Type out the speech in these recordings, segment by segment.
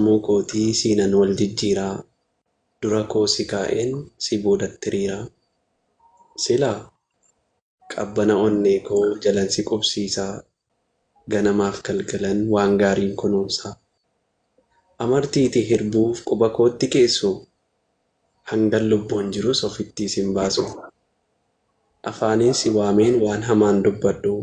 Sammuu kootii siinan wal jijjiiraa Dura koo si kaa'een si boodatti hiriiraa Silaa qabbana onnee koo jalan si qubsiisaa Ganamaaf galgalan waan gaariin kunuunsaa Amartiitii hirbuuf quba kootti keessuu Hangan lubbuun jirus ofittii sin baasuu Afaaniin si waameen waan hamaan dubbadhuu.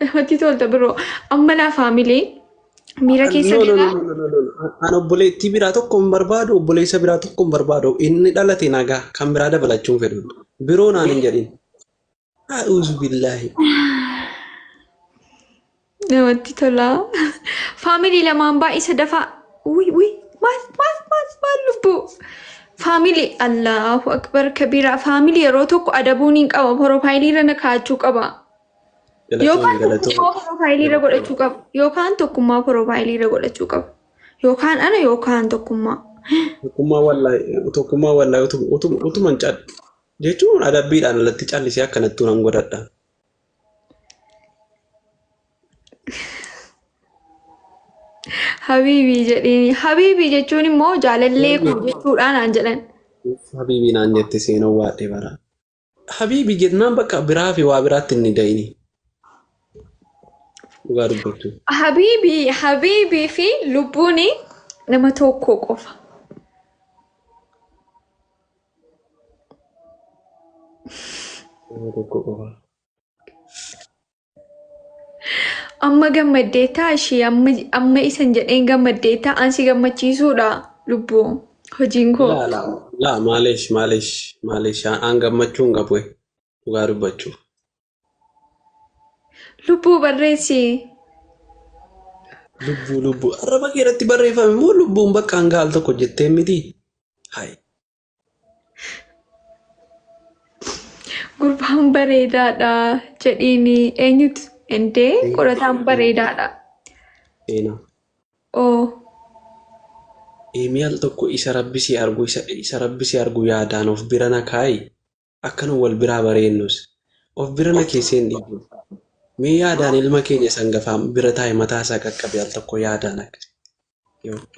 Namatti tolta biroo. Amma laa faamilee miira keessa No, no, no, galaa. no, no, no, no. An obboleettii biraa tokko hin barbaadu, obboleessa biraa tokko hin barbaadu. Inni dhalate nagaa kan biraa dabalachuu hin fedhu. Biroo naan hin jedhin. A'uuzu billaahi. Namatti tola. Faamilii lamaan baay'isa dafaa. Uy uy maal maal maal maal lubbuu. Faamilii Allahu akbar kabiraa faamilii yeroo tokko adabuun hin qaba piroofaayilii irra na kaa'achuu qaba. Yookaan tokkummaa piroofaayilii irra godhachuu qaba. Yookaan tokkummaa piroofaayilii irra godhachuu qaba. Yookaan ana yookaan tokkummaa. Tokkummaa wallahi tokkummaa wallahi utum- utum- utuman cal jechuun adabbiidhaan alatti callisee akkanattuu nan godhadha. Habiibii jedhiin. Habiibii jechuun immoo jaalallee koo jechuudhaan aan jedhan. Habiibii naan jette seenuu waadhee bara. Habiibii jennaan bakka biraa fi waa biraatti inni da'ini. Dhugaa dubbachuu. Habiibii, habiibii fi lubbuun nama tokko qofa. Amma gammaddeettaa ishii amma amma isan jedheen gammaddeettaa ansi gammachiisuudha lubbuu hojiin koo. Laa laa laa maalish maalish maalish aan gammachuu hin qabu dhugaa dubbachuuf. Lubbuu barreessi. Lubbuu lubbuu. Arraba kee irratti barreeffame immoo lubbuun bakka hanga al tokko jettee miti. Hai. Gurbaan bareedaadha jedhiini eenyutu endee qorataan bareedaadha. Seenaa. Oo Eemii al tokko isa rabbi si argu isa, isa rabbi si argu yaadaan of bira na kaayi. akkana wal biraa bareennus of bira na keesseen dhiibu. Mee yaadaan ilma keenya isa hangafaa bira taa'e mataa isaa qaqqabe al tokko yaadaan akka. Yoo-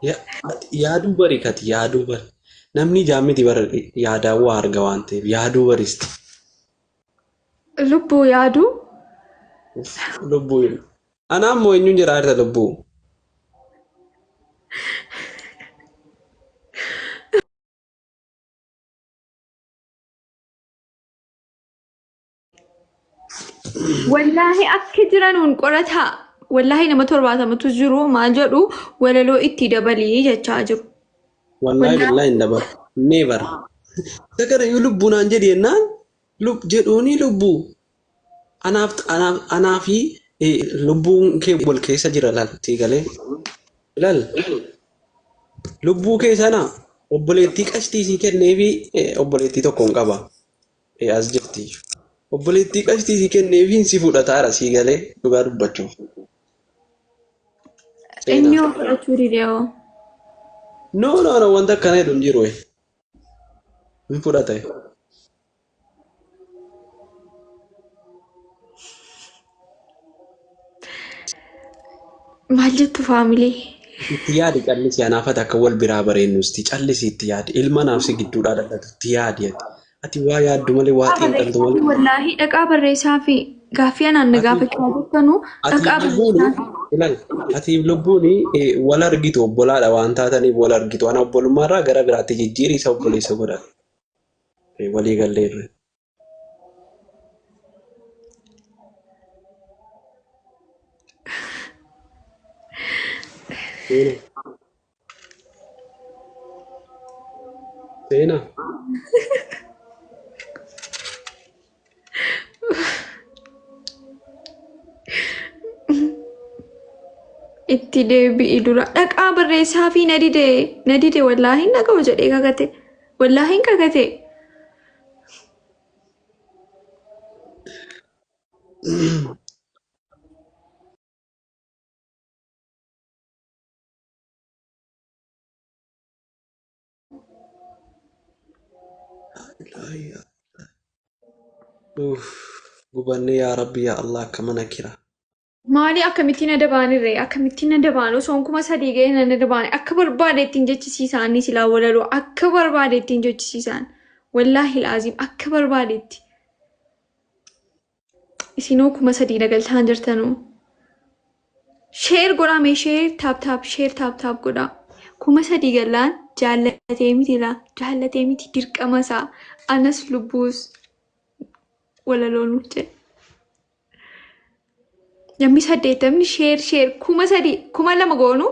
Ya- ati Yaaduu bari kati yaaduu bari. Namni ijaan miti bara yaadaan waa arga waan ta'eef yaaduu baristi. Lubbuu yaaduu Uff, Lubbuu hin. Anaa immoo eenyuun jedhaa jirta lubbuu? Wallaahi akka jiranuun qorataa wallaahi nama torbaatamatu jiru maal jedhu walaloo itti dabalii jechaa jiru. Wallaahi billahi hin dabalu. Never. Isa kana yoo lubbuu naan jedhi jennaan lub jedhuuni lubbuu Anaaf anaaf anaa fi eh, lubbuun kee wal keessa jira laal sii galee laal lubbuu kee sana obboleettii qashtii sii kennee fi eh, obboleettii tokkoon qaba eh, as jirti obboleettii qashtii sii kennee fi si fudhataara sii galee dhugaa dubbachuuf Inni seenaa. yoo fudhachuu didee hoo? No no no wanta akkana jedhu hin jiru. eh. hin fudhate Maal jettu faamilee? itti yaadi callisi anaafati akka wal biraa bareennusti callisi itti yaadi ilma naafsi gidduudhaa dhadhatu itti yaadi ati ati waa yaaddu malee waa xiinxaltu malee Wallaahi dhaqaa barreessaa fi Gaaffii anaan na gaafachaa jirtanu dhaqaa Ilal, atiif lubbuun wal argitu obbolaadha waan taataniif wal argitu. Ana obbolummaarraa gara biraatti jijjiiri isa obboleessa godha. Walii gallee irra. Seena. Itti deebi'i dura dhaqaa barreessaa fi na dide na dide wallaahi hin dhaga'u jedhee kakate wallaahi hin kakate Uff, gubanne yaa rabbi yaa allah akka mana kira Maali akkamittiin adda baanirree? Akkamittiin adda baanu? Osoon kuma sadii ga'ee nan adda baane. Akka barbaade ittiin jechisiisa anni silaa walaloo. Akka barbaade ittiin jechisiisaan. Wallaahi laaziim akka barbaadetti. isinoo kuma sadii nagaltaan jirtanuu sheer godhaa mee sheer taap taap sheer taap taap godhaa kuma sadii gallaan jaallatee miti laa jaallatee miti dirqama isaa anas lubbuus walaloo nuuf jedhe namni saddeettamni sheer sheer kuma sadii kuma lama goonuu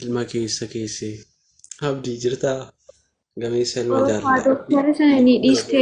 ilma keessa keessee abdii jirtaa gameessa ilma Oromoo jaalala doktara sana ni dhiiste.